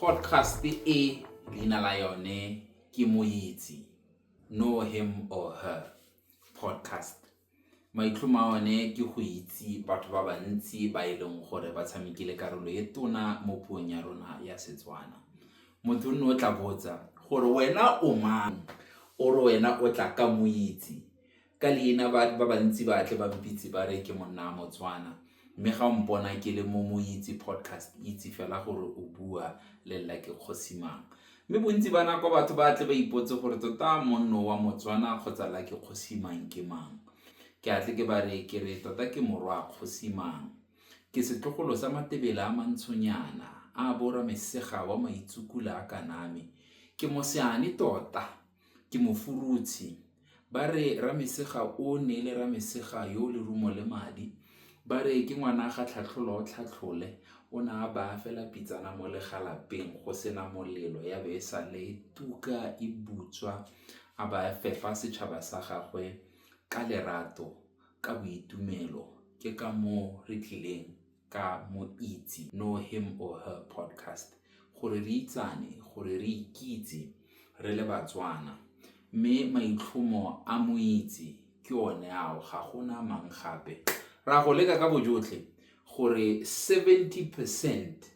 Podcast e leina la yone ke Moitse, Know Him or Her Podcast. Maitlhomo a one ke go itse batho ba bantsi ba e leng gore ba tshamekile karolo e tona mo puong ya rona ya Setswana. Motho nne o tla botsa gore wena o mang, o re wena o tla ka Moitse. Ka leina ba bantsi ba tle ba mpitse ba re ke monna wa Motswana mme ga o mpona ke le mo Moitse Podcast itse fela gore o bua le Lla Ke Kgosi Mang. Mme bontsi ba nako batho ba tle ba ipotse gore tota monno wa Motswana kgotsa Lla Ke Kgosi Mang ke mang. Ke a tle ke ba re ke re tota ke morwa Kgosi Mang. Ke setlogolo sa Matebela a Mantshonyana a bo Ramesega wa Maitsukula a Kaname. Ke moseane tota. ke mofurutshi. Ba re Ramesega o neele Ramesega yo lerumo le madi, ba re ke ngwana ga Tlhatlhola o tlhatlhole, o ne a baya fela pitsana mo legalapeng go sena molelo ya be e sale tuka e butswa, a ba fepa setšhaba sa gagwe ka lerato, ka boitumelo, ke ka moo re tlileng ka mo itse, Know Him or Her Podcast, gore re itsane, gore re ikitse re le Batswana. Mme maitlhomo a mo itse ke one ao, ga gona mang gape. Ra go leka ka bojotlhe gore 70 percent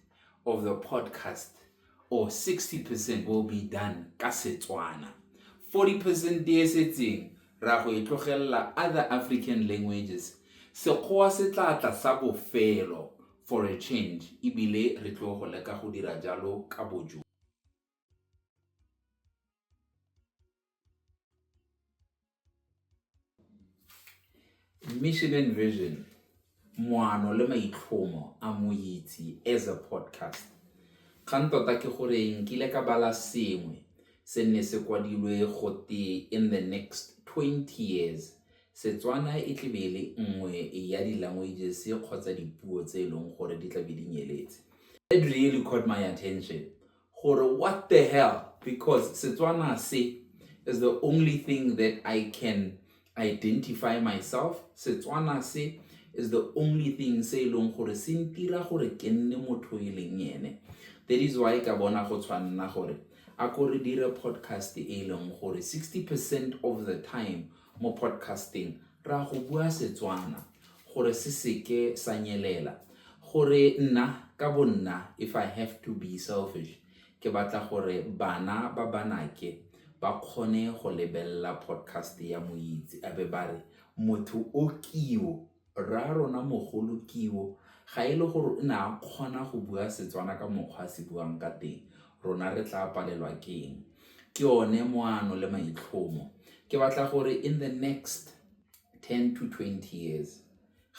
of the podcast or 60 percent will be done ka Setswana. 40 percent e setseng ra go e tlogelela other African languages. Sekgowa se tla tla sa bofelo for a change ebile re tlo go leka go dira jalo ka bojo. Mission and vision, moano le maitlhomo a Moitse as a podcast. Kgang tota ke gore nkile ka bala sengwe se ne se kwadilwe go te in the next 20 years Setswana e tle be le nngwe ya di-languages kgotsa dipuo tse e leng gore di tla be di nyeletse. That really caught my attention gore what the hell because Setswana se is the only thing that I can identify myself Setswana se is the only thing se e leng gore se ntira gore ke nne motho e leng ene that is why ka bona go tshwanna gore a ko re dire podcast e leng gore 60 percent of the time mo podcasting ra go bua Setswana gore se seke sa nyelela, gore nna ka bonna if I have to be selfish ke batla gore bana ba banake ba kgone go lebelela podcast ya Moitse a be ba re motho o kio, rra rona mogolo kio ga e le gore o ne a kgona go bua Setswana ka mokgwa a se buang ka teng rona re tla palelwa ke eng. Ke one moano le maitlhomo ke batla gore in the next ten to twenty years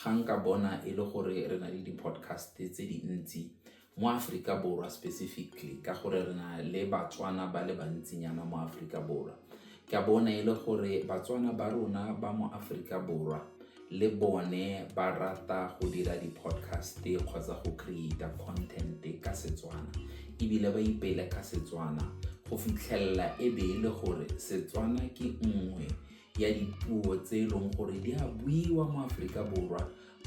ga nka bona e le gore re na le di-podcast tse dintsi mo Aforika Borwa specifically ka gore re na le Batswana ba le bantsinyana mo Aforika Borwa ke a bona e le gore Batswana ba rona ba mo Aforika Borwa le bone ba rata go dira di-podcast kgotsa go create content ka Setswana ebile ba ipele ka Setswana go fitlhelela e be e le gore Setswana ke nngwe ya dipuo tse e leng gore di a buiwa mo Aforika Borwa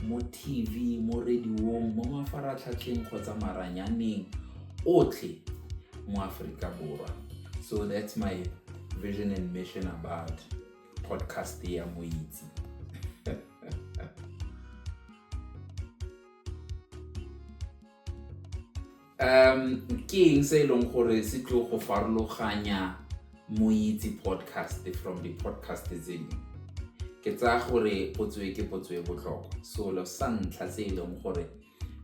mo TV, mo radiong, mo mafaratlhatlheng kgotsa maranyaneng otlhe mo Aforika Borwa. So that's my vision and mission about podcast ya Moitse. um ke eng se e leng gore se tlo go farologanya moitse podcast from di-podcast tse dingwe ke tsaya gore potso e ke potso e botlhokwa selo sa ntlha se e leng gore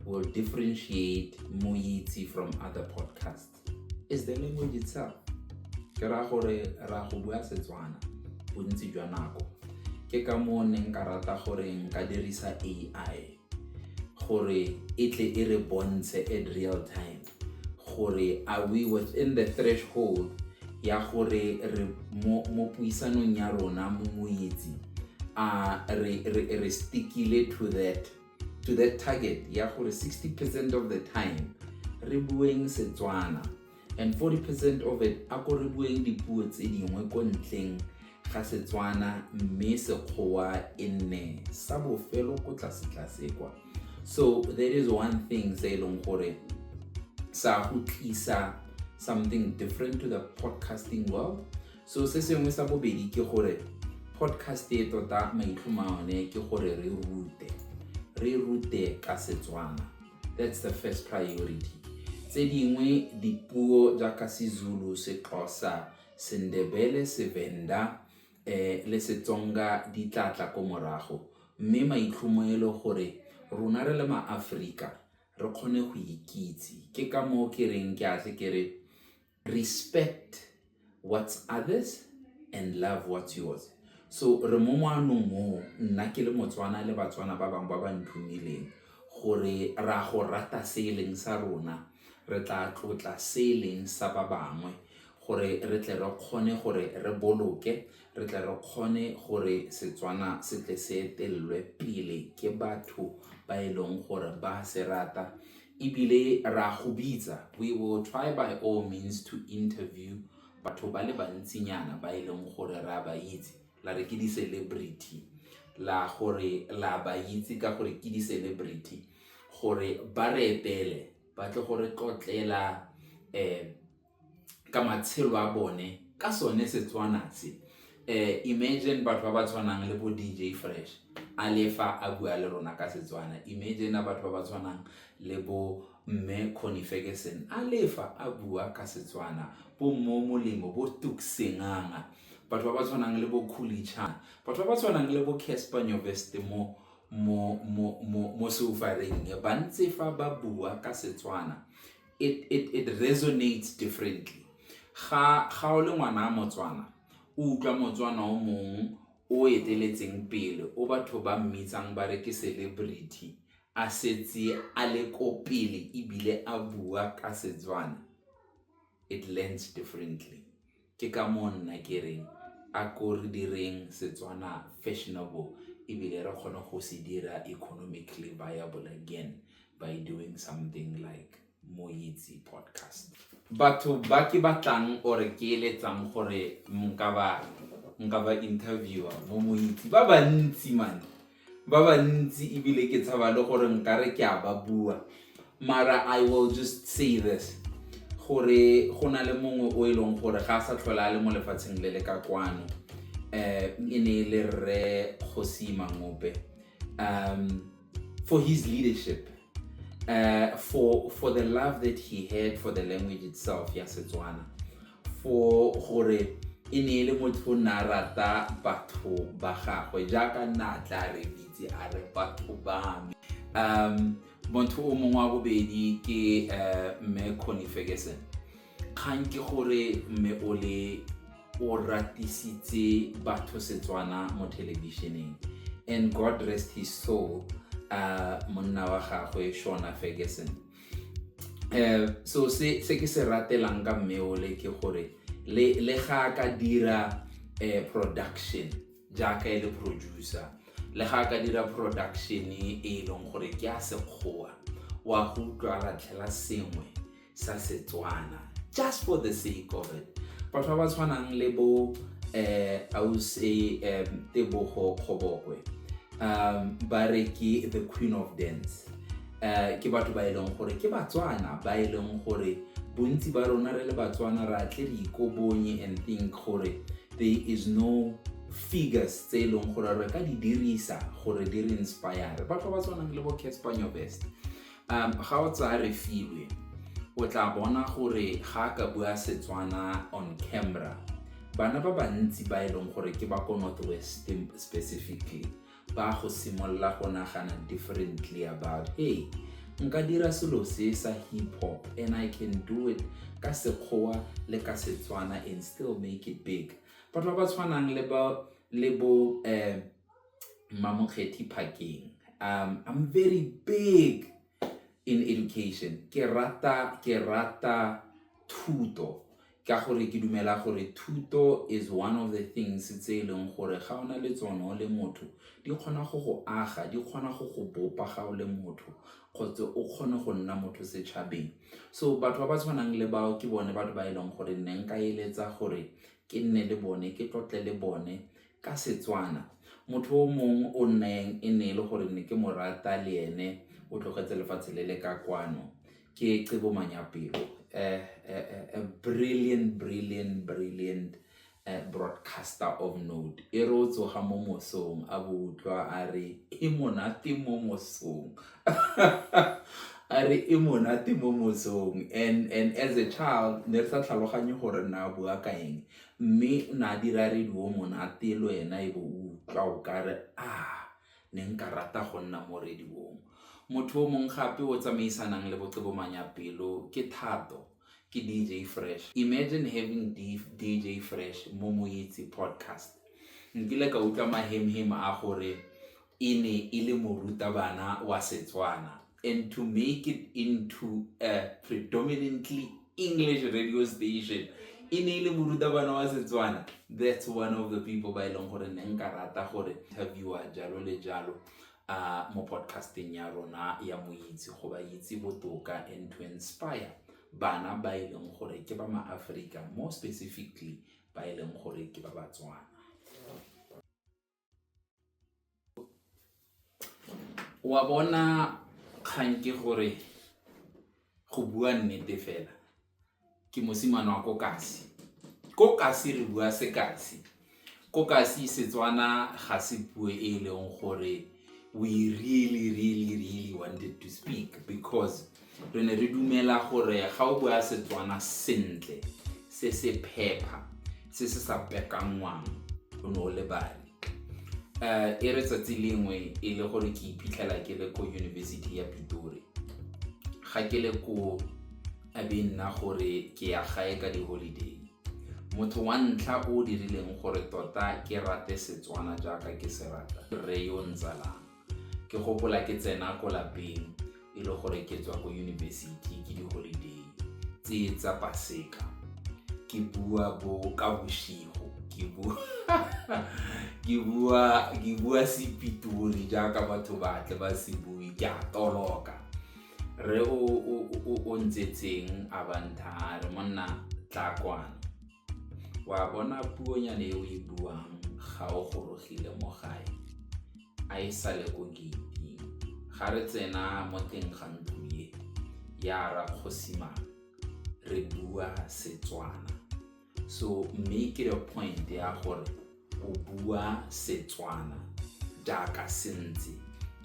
will differentiate moitse from other podcast is the language itself ke raya gore ra go bua setswana bontsi jwa nako ke ka moo ne nka rata gore nka dirisa ai gore e tle e re bontshe at real time gore are we within the threshold ya gore re mo puisanong ya rona mo moitsi a re re re stickile to that to that target ya gore 60 percent of the time re bueng setswana and 40 percent of it a ko re bueng dipuo tse dingwe ko ntleng ga setswana mme sekgowa e nne sa bofelo ko tlasetlase kwa so there is one thing se e leng gore sa go tlisa something different to the podcasting world so se sengwe sa bobedi ke gore podcast e tota maitlhoma one ke gore re rute re rute ka setswana that's the first priority tse dingwe dipuo jaaka sezulu sexhosa sendebele sevenda eh, le setsonga di tla tla ko morago mme maitlhomo e le gore rona re le maaforika re kgone go ikitse ke ka moo ke reng ke atle ke re respect what's others and love what's yours. So re mo moanong oo, nna ke le Motswana le Batswana ba bangwe ba ba nthumileng, gore re a go rata se e leng sa rona, re tla tlotla se e leng sa ba bangwe, gore re tle re kgone gore re boloke, re tle re kgone gore Setswana se tle se etelelwe pele ke batho ba e leng gore ba a se rata. Ebile re a go bitsa, we will try by all means to interview batho ba le bantsinyana ba e leng gore re a ba itse, la re ke di-celebrity, la gore la ba itse ka gore ke di-celebrity, gore ba re etele ba tle go re tlotlela um ka matshelo a bone ka sone Setswana se. Imagine batho ba ba tshwanang le bo D_J Fresh a le fa a bua le rona ka Setswana, imagine batho ba ba tshwanang le bo Mme Connie Ferguson a le fa a bua ka Setswana, bo Mmo Molemo, bo Tuks Senganga, batho ba ba tshwanang le bo Khuli Chan, batho ba ba tshwanang le bo Casper Nyovest mo mo mo mo mo seufareng ba ntse fa ba bua ka Setswana. it, it, it resonates differently ga ga o le ngwana motswana o utlwa motswana o mongwe o eteletseng pele o batho ba mmitsang ba re ke celebrity a setse a le ko pele ebile a bua ka setswana it lands differently Ke ka moo nna ke reng a ko re direng Setswana fashionable ebile re kgone go se dira economically viable again by doing something like Moitse Podcast. Batho ba ke batlang or ke eletsang gore nka ba nka ba interviewer mo Moitse ba bantsi man ba ba ntsi ebile ke tshaba le gore nkare ke a ba bua mara i will just say this gore go na le mongwe o e leng gore ga a sa tlhola a le mo lefatsheng le le ka kwano um e ne e le rre kgosi mangope um for his leadership uh, for, for the love that he had for the language itself ya setswana foo gore e ne e le motho o ne a rata batho ba gagwe jaaka nna a tla re bitse a re batho ba me um motho o mongwe wa bobedi ke eh, mme conny ferguson kgang ke gore mme o le o ratisitse batho setswana mo thelebišeneng and god rest his soul uh, monna wa gagwe shona ferguson eh so se se ke se ratelang ka mmeole ke gore le le ga ka dira eh production jaaka e le producer le ga ka dira production e e leng gore ke a sekgowa wa go utlwa latlhela sengwe sa setswana just for the sake of it batho ba ba tshwanang le bo eh ause um tebogo kgobokwe um ba re ke the queen of dance um ke batho ba e leng gore ke batswana ba e leng gore bontsi ba rona re le batswana ra tle re ikobonye and think gore there is no figures tse e leng gore re ka di dirisa gore di re inspire batho ba tshwanang le bo caspanyo best um ga o tsaya re filwe o tla bona gore ga a ka bua setswana on camera bana ba bantsi ba e leng gore ke ba ko northwest specifically ba go simolola go nagana differently about hey nka dira selo se sa hip hop and i can do it ka sekgowa le ka setswana and still make it big batho ba ba tshwanang le ba le bo um mamokgethi parking um i'm very big in education ke rata ke rata thuto ka gore ke dumela gore thuto is one of the things tse e leng gore ga o na le tsone o le motho di kgona go go aga di kgona go go bopa ga o le motho kgotsa o kgone go nna motho setšhabeng so batho ba ba tshwanang le bao ke bone batho ba e leng gore nne nka eletsa gore ke nne le bone ke tlotle le bone ka Setswana motho o mongwe o nneng e ne e le gore ne ke mo rata le ene o tlogetse lefatshe le le ka kwano ke Cebo Manyapelo, a brilliant, brilliant, brilliant broadcaster of note. E re o tsoga mo mosong a bo utlwa a re e monate mo mosong a re e monate mo mosong and as a child ne re sa tlhaloganye gore ne a bua ka eng mme o ne a dira radio monate le wena e be o utlwa o kare . Ne nka rata go nna mo rediong. Motho o mongwe gape o o tsamaisanang le boqebomanya pelo ke Thato, ke DJ Fresh. Imagine having DJ Fresh mo Moitse podcast. Nkile ka utlwa mahemhem a gore e ne e le morutabana wa Setswana. and to make it into a predominantly english radio station e ne e le morutabana wa setswana that's one of the people ba e leng gore ne nka rata gore interviewa jalo le jalo uh, mo podcasteng ya rona ya moitse go ba itse botoka and to inspire bana ba e leng gore ke ba maaforika more specifically ba e leng gore ke ba batswana wa bona kgang ke gore go bua nnete fela ke mosimane wa ko kasi ko kasi re bua se kasi ko kasi setswana ga se puo e e leng gore we really really really wanted to speak because re ne re dumela gore ga o bua setswana sentle se se phepha se se sa pekanngwang o ne o lebale um e re tsatsi lengwe e le gore ke iphitlhela ke le ko yunibesithi ya pitori ga ke le ko a be nna gore ke ya gae ka di-holiday motho wa ntlha o dirileng gore tota ke rate setswana jaaka ke se rata re yo ntsalang Ke gopola ke tsena ko lapeng e le gore ke tswa ko yunibesithi ke di-holiday tse tsa paseka ke bua bo ka boshigo ke bua ke bua ke bua sepitori jaaka batho ba tle ba se bue ke a toloka re o o o o ntsetseng a bantha re monna tla kwana O a bona puonyane e o e buang ga o gorogile mo gae, a e sale ko geiting. Ga re tsena mo teng ga ntlo e ya ra kgosimane re bua Setswana so mme ke re point ya gore O bua Setswana jaaka se ntse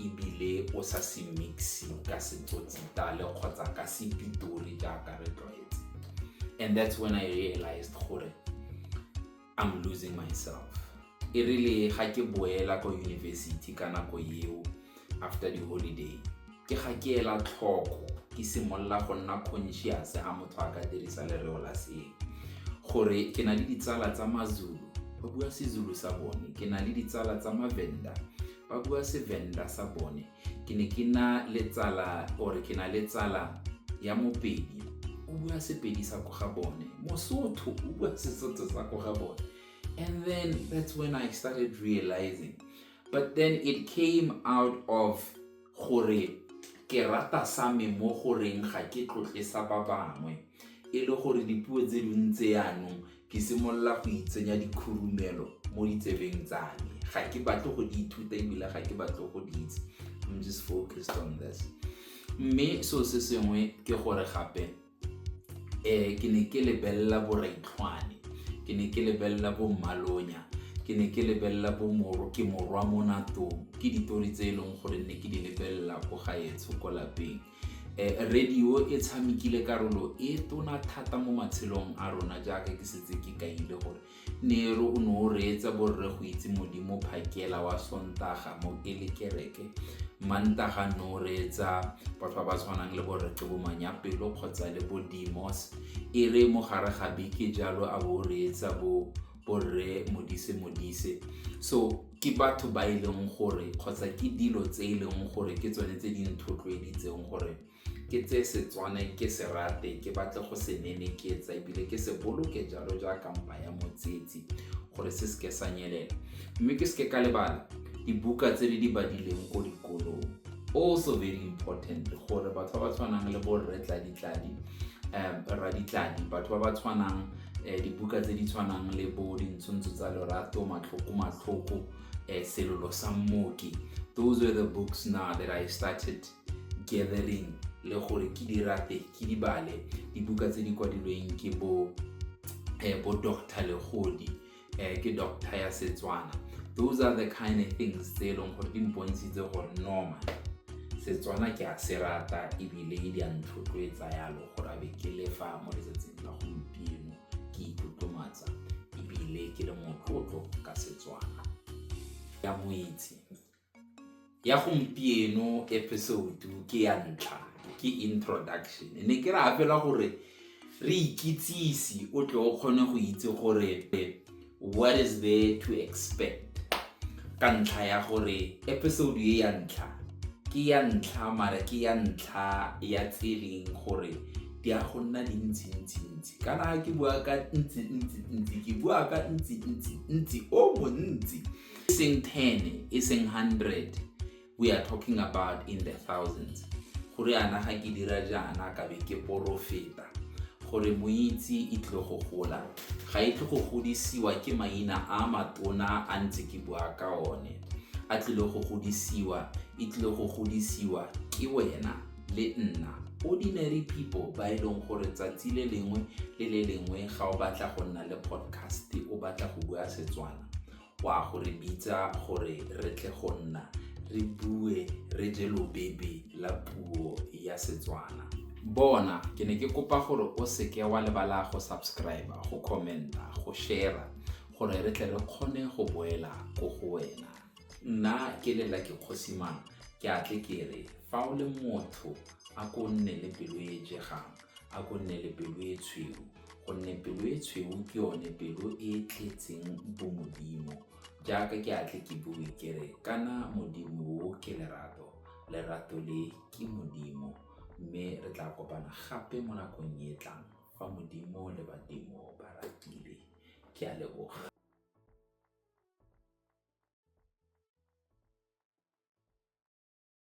ebile o sa se mixe ka setsotsitale kgotsa ka sepitori jaaka re tlwaetse and that's when i realized gore i'm losing myself e rile ga ke boela ko university ka nako eo after the holiday ke ga ke ela tlhoko ke simolola go nna conscious ga motho a ka dirisa lereo la seng gore ke na le ditsala tsa mazulu ba bua sezulu sa bone ke na le ditsala tsa mavenda ba bua sevenda sa bone ke ne ke na le tsala or ke na le tsala ya mopedi o bua sepedi sa ko ga bone mosotho o bua sesotho sa ko ga bone and then that's when i started realizing but then it came out of gore ke rata sa me mo goreng ga ke tlotle sa ba bangwe e le gore dipuo tse ding tse yanong ke simolola go itsenya dikhurumelo mo ditsebeng tsa me ga ke batle go di ithuta ebile ga ke batle go di itse i'm just focused on this mme seo se sengwe ke gore gape um ke ne ke lebelela boraitlhwane ke ne ke lebelela bo mmalonya ke ne ke lebelela bo moro ke morwa mo natong ke ditori tse e leng gore ne ke di lebelela ko gaetsho ko lapeng Eh, radio e tshamekile karolo e tona thata mo matshelong a rona jaaka ke setse ke kaile gore Nero o ne o reetsa borre go itse Modimo phakela wa Sontaga mo e le kereke. Mantaga ne o reetsa batho ba ba tshwanang le borre Qebomanyapelo kgotsa le bo Demos. E re mo gare ga beke jalo a bo o reetsa bo borre Modise Modise. So ke batho ba e leng gore kgotsa ke dilo tse e leng gore ke tsone tse di nthotloeditseng gore ke tseye Setswana ke se rate ke batle go se neneketsa ebile ke se boloke jalo jaaka mpa ya motsetsi gore se seke sa nyelela mme ke seke ka lebala dibuka tse di di badileng ko dikolong also very important gore batho ba ba tshwanang le borre tladitladi um raditladi batho ba ba tshwanang um dibuka tse di tshwanang le bo dintshontsho tsa lorato matlhoko matlhoko um selolo sa mmoki those were the books now that i started gathering le gore ke di rate ke di bale dibuka tse di kwadilweng ke bo eh, bo doctor legodi eh, ke doctor ya setswana those are the kind of things tse e leng gore di mpontshitse gore normal setswana ke a se rata ebile e di a ntlhotloetsa yalo gore abe ke lefa mo letsatsing la gompieno ke itlotlomatsa ebile ke le motlotlo ka setswana ya moitse ya gompieno episode ke ya ntlha ke introduction ne ke ra fela gore re ikitsise o tle o kgone go itse gore what is there to expect ka ntlha ya gore episode e ya ntlha ke ya ntlha mara ke ya ntlha ya tseleng gore di a go nna dintsintsi-ntsi kana ke bua ka ntsi-ntsi-ntsi ke bua ka ntsi-ntsi-ntsi o montsi e seng 10 e seng 100 we are talking about in the thousands gore ana ga ke dira jaana ka be ke porofeta gore moitse e tlile go gola ga e tle go godisiwa ke maina a matona a ntse ke bua ka one a tlile go godisiwa e tlile go godisiwa ke wena le nna ordinary people ba e leng gore tsatsi le lengwe le le lengwe ga o batla go nna le podcast o batla go bua setswana O a go re bitsa gore re tle go nna re bue re je lobebe la puo ya Setswana. Bona, ke ne ke kopa gore o seke wa lebala go subscribe, go commenta, go share gore re tle re kgone go boela ko go wena. Nna ke lela ke kgosimang, ke a tle ke re fa o le motho a ko nne le pelo e jegang, a ko nne le pelo e tshweu. gonne pelo e tshweu ke yone pelo e e tletseng bomodimo. Jaaka ke a tle ke bue ke re, kana Modimo o ke lerato, lerato le ke Modimo. Mme re tla kopana gape mo nakong e e tlang fa Modimo le badimo ba ratile. Ke a leboga.